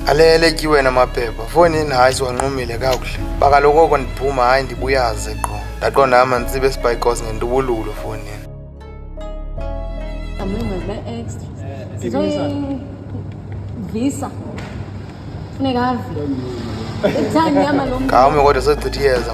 aleleki wena maphepha foni yini hayi siwanqumile kakuhle bakaloku oko ndiphuma hayi ndibuyaze qho ndaqonda hama nditsibe esibhayikos ngendubululo foni yini visa funeka ave ngawume kodwa sechitha iyeza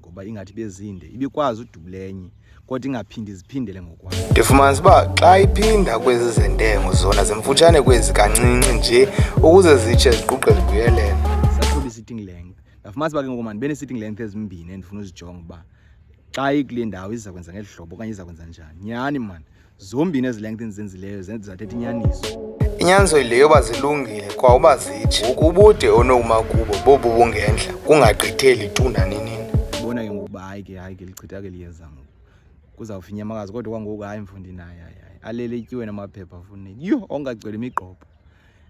ngoba ingathi bezinde ibikwazi udubulenye kodwa ingaphindi ziphindele ngokwayo ndifumanisa uba xa iphinda kwezi zentengo zona zimfutshane kwezi kancinci nje ukuze zitshe ziquqe zibuyelele sathoba i-sitting length ndafumanisa uba ke ngoku mani bene-sitting length ezimbini endifuna uzijonga uba xa ikule ndawo iza kwenza ngeli hlobo okanye iza kwenza njani nyhani mani zombini ezi length endizenzileyo zathetha inyaniso inyanzo yile yoba zilungile kwa uba zitshe ngoku ubude onokuma kubo bobu bungentla kungagqitheli tu naninini bona ke ngokuba hayi ke hayi ke lichitha ke liyenza ngoku kuzawufa inyamakazi kodwa kwangoku hayi mfundi naye hayi hayi alele ityiwe namaphepha afuneki yho ongagcweli imigqobho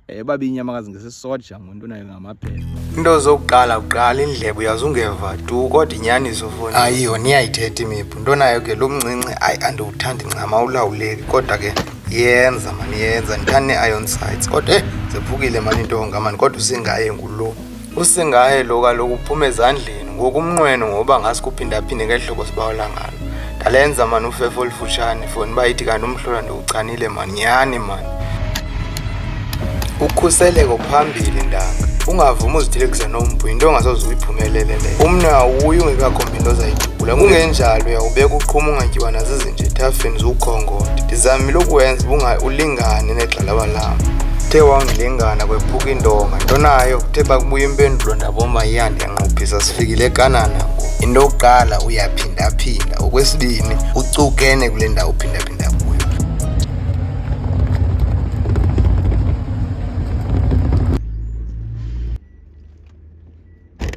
Eh, babini amakazi ngesisoja ngomuntu nayo ngamaphepha into zokuqala kuqala indlebe uyazungeva tu kodwa inyaniso foni ayiyo niyayithetha imiphu into nayo ke lo mncinci ayi andiwuthandi ncama ulawuleki kodwa ke yenza mani yenza ndithanda nee-iron sites kodwa e zephukile mani into ngamani kodwa usingaye ngulo usingaye lo kaloku uphuma ezandleni ngoku umnqweno ngoba ngazi kuphindaphinde ngeli hlobo sibawula ngalo ndalenza mani ufefo olufutshane foni uba ithi kanti umhlola ndiwuchanile mani nyhani mani ukhuseleko phambili ndanga ungavumi uzithelekisa nompu yinto ongasoze uyiphumelelele umnwe awuyi ungekakhombi into ozayidubula kungenjalo uyawubeka uqhuma ungatyiwa nazizi ndithafeni ziwukhongoda ndizamile ukuwenza ubunga ulingane negxalaba lam uthe wangilingana kwephuka indonga nto nayo kuthe bakubuya impendulo ndabomba iyandi yanqophisa sifikile ekanana ngoku into yokuqala uyaphindaphinda okwesibini ucukene kule ndawo uphindaphinda kuyo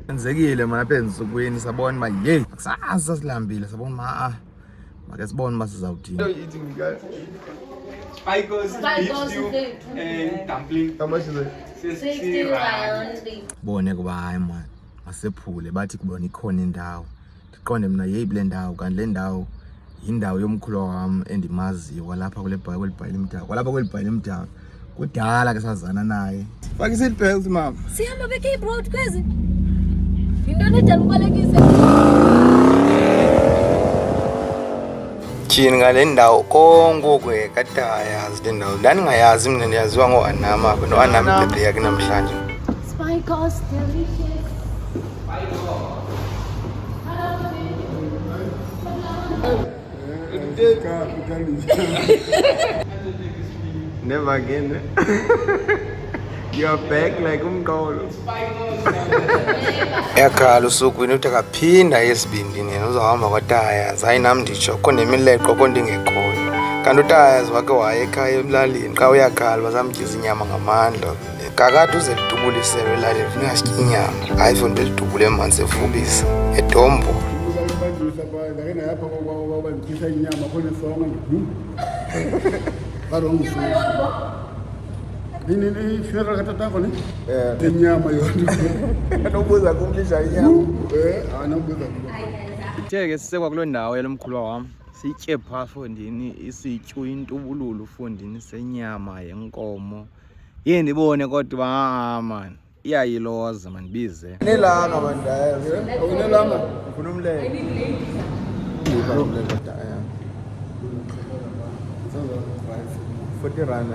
enzekile mna apha ensukwini sabona uba yeyi kusasa silambile sabona uba a Make sibone uma sizawuthini. Bone kuba hayi mani masephule bathi kubona ikhona indawo ndiqonde mna yeyi kule ndawo kanti le ndawo yindawo yomkhulu wam endimaziyo kwalapha kweli bhayi limdaka kwalapha kweli bhayi limdaka kudala ke sazana naye faka i-seat belt mama sihamba becape road kwezi yinto nedala ubalekise tyhini ngale ndawo kongoku kade ayazi le ndawo ndandingayazi mna ndiyaziwa ngoanam apha noanam ibhebhe yakhe namhlanje Spice Never again. You're back like umqolo. Yakhala usuku into kaphinda yesibindini yena uzawuhamba kwataya zayi nam nditsho kho nemileqo kho ndingekhoyo kanti utayazi wake waye ekhaya emlalini xa uyakhala bazamtyiza inyama ngamandla kakade uze lidubule iselo elalini funeka sitye inyama hayi fo nto lidubule emanzi evubisa edombo ifuneral katatako ni inyama yona anobuza kumlisha inyama anobuza ke sisekwa kuloo ndawo yalo mkhulwa wam sitye phaa fondini isityu intubululu fondini senyama yenkomo Yee ndibone kodwa aa ah, mani iyayiloza mandibize nelanga mandaya unelanga ufuna umlele forty rand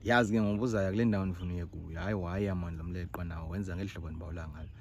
yazi ke ngobuzayo kule ndawo ndifuna uye kuyo hayi waya mani lo mleqwa nawo wenza ngeli hlobo ndibawula ngalo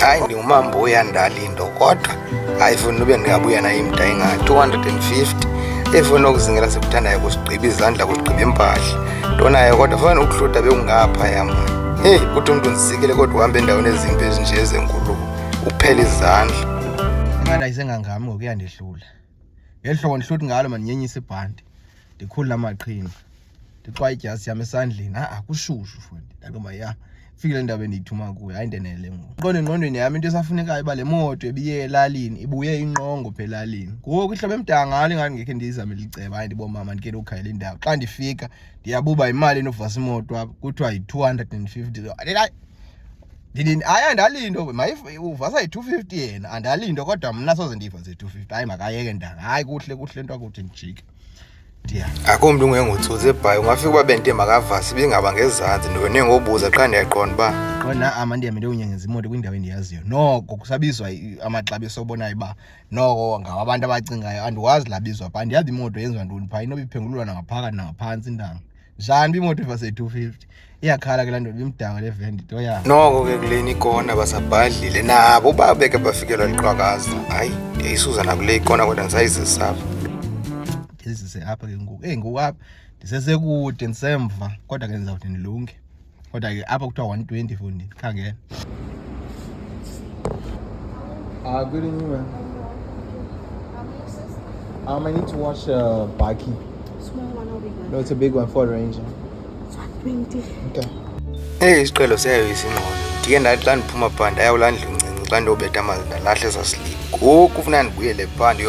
hayi ndi umambo uyandali into kodwa ayifuni nube ndingabuya naye imda inga 250 efuna ukuzingela sikuthandayo kusigqiba izandla kusigqiba impahla ntonayo kodwa fana ukuhluda bekungapha yama heyi kuthi umntu ndisikile kodwa uhambe endaweni ezimbi ezinje ezenkulu uphela izandla imana isengangami ngokuyandehlula ngeli hlobo ndihluthi ngalo mandinyenyise ibhanti ndikhulule amaqhinga ndixwaye idyasi yam esandleni a kushushu fundi ndathi uba ya fike le ndawo endiyithuma kuyo hayi ndenele ngoku qonda engqondweni yam into esafunekayo uba le moto ebiye elalini ibuye inqongo pha elalini ngoku ihlobo emdangalo ingathi ngekhe ndiyizamele iceba hayi ndibomama ndike ndiwukhayela indawo xa ndifika ndiyabuba yimali enokuvasa imoto apha kuthiwa yi-two hundred and fifty ndini hayi andalinto uva sayi-two fifty yena andalinto kodwa mna soze ndiva ze-two fifty hayi makayeke ndanga hayi kuhle kuhle nto akuthi ndijike ndiya akho mntu ungengutsutsi ebhayi ungafika uba bente makavasi bingaba ngezantsi ndone ngobuza qha ndiyaqonda uba qonda ama ndihambe ndiyonyengeza imoto kwindawo endiyaziyo noko kusabizwa amaxabiso obonayo uba noko ngawo abantu abacingayo andiwazi labizwa pha ndiyazi imoto yenziwa ntoni phaa inoba iphengululwa nangaphakathi nangaphantsi intanga njani bimoto vase 250 iyakhala ke lanto bimdaka le vendi to ya noko ke kuleni ikona basabhadlile nabo babeke bafikelwa liqhakaza hayi ndiyayisuza nakule ikona kodwa ndisayizisapha ndizise apha ke ngoku eyi ngoku apha ndisesekude ndisemva kodwa ke ndizawuthi ndilunge Kodwa ke apha kuthiwa 120 fundi khangela. Ah, good evening, ma'am. Um, I need to watch a uh, baki. Small one or big one? No, it's a big one, Ford Ranger. It's 120. Okay. Hey, isiqelo siyayo isingqondo. Ndike ndathi xa ndiphuma phandle ayawulandla uncinci xa ndiyobetha amanzi ndalahle zasilima. Ngoku funeka ndibuyele phandle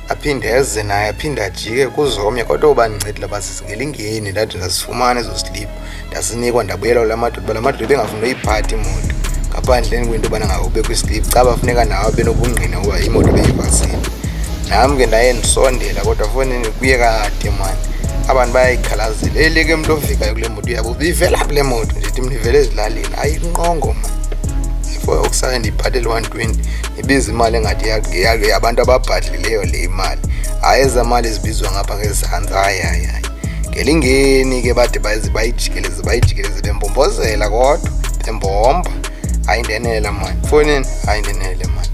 aphinde eze naye aphinde ajike kuzomya kodwa uba ndincedile uba sizingelingeni ndathi ndazifumana ezo sliphu ndasinikwa ndabuyelwa la madoda uba la madoda ebengafuni uyiphatha imoto ngaphandleni kwento yobana ngawube kwisliphu caba funeka nawo abenobungqina uba imoto beyivasile nam ke ndaye ndisondela kodwa fonini kuye kade mani abantu bayayikhalazela eleke mntu ofikayo kule moto uyabo bivela phi le moto ndithi mnivele ezilalini ayinqongo mani before okusale ndiyiphathele 120 ibiza imali engathi yabantu ababhadlileyo le imali hayi ezamali zibizwa ngapha ngezantsi hayi hayi hayi ngelingeni ke bade bayijikeleze bayijikeleze bembombozela kodwa bembomba hayi ndenela mani fonini hayi ndenele mani